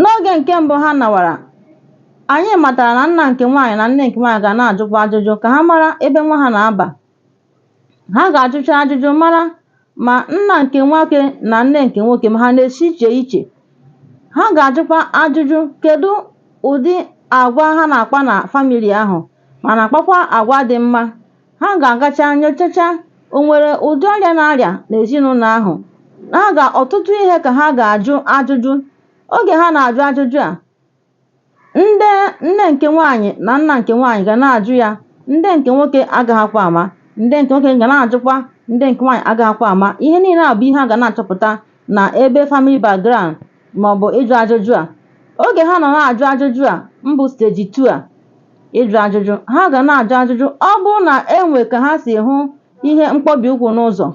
N'oge nke mbụ ha nawara, anyị matara na nna nke nwaanyị na nne nke nwaanyị ga na-ajụkwa ajụjụ ka ha mara ebe nwa ha na-aba. Ha ga-ajụcha ajụjụ mara ma nna nke nwoke na nne nke nwoke ma ha na-esi iche iche. Ha ga-ajụkwa ajụjụ kedu ụdị agwa ha na-akpa na famili ahụ ma na-akpakwa agwa dị mma. Ha ga-agacha nyochacha o nwere ụdị ọrịa a na-arịa n'ezinụlọ ahụ. Ha ga ọtụtụ ihe ka ha ga-ajụ ajụjụ. Oge ha na-ajụ ajụjụ a, nne nke nwaanyị na nna nke nwaanyị ga na-ajụ ya, ndị nke nwoke agaghịkwa ama. Ndị nke nwoke ga na-ajụkwa, ndị nke nwaanyị agaghịkwa ama. Ihe niile a bụ ihe a ga na-achọpụta na ebe family background maọbụ ịjụ ajụjụ a oge ha nọ na-ajụ ajụjụ a mbụ steji 2 a ịjụ ajụjụ ha ga na-ajụ ajụjụ ọ bụrụ na e nwee ka ha si hụ ihe mkpọbi ụkwụ n'ụzọ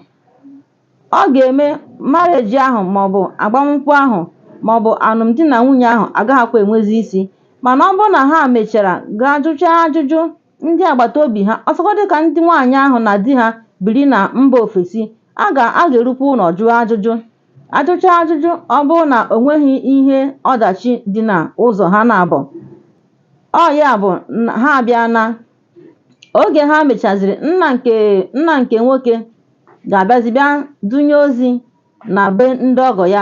ọ ga-eme marriage ahụ maọbụ agbamnkwụ ahụ maọbụ alụmdi na nwunye ahụ agaghịkwa enwezi isi mana ọ bụrụ na ha mechara gaa jụchaa ajụjụ ndị agbata obi ha ọsọgọdị ka ndị nwaanyị ahụ na di ha biri na mba ofesi a ga-erukwa ụlọ jụọ ajụjụ a jụchaa ajụjụ ọ bụrụ na o nweghị ihe ọdachi dị na ụzọ ha naabọ ọ ya bụ ha abịa na oge ha mechaziri nna nke nwoke ga-abịazi bịa dunye ozi na be ndị ọgọ ya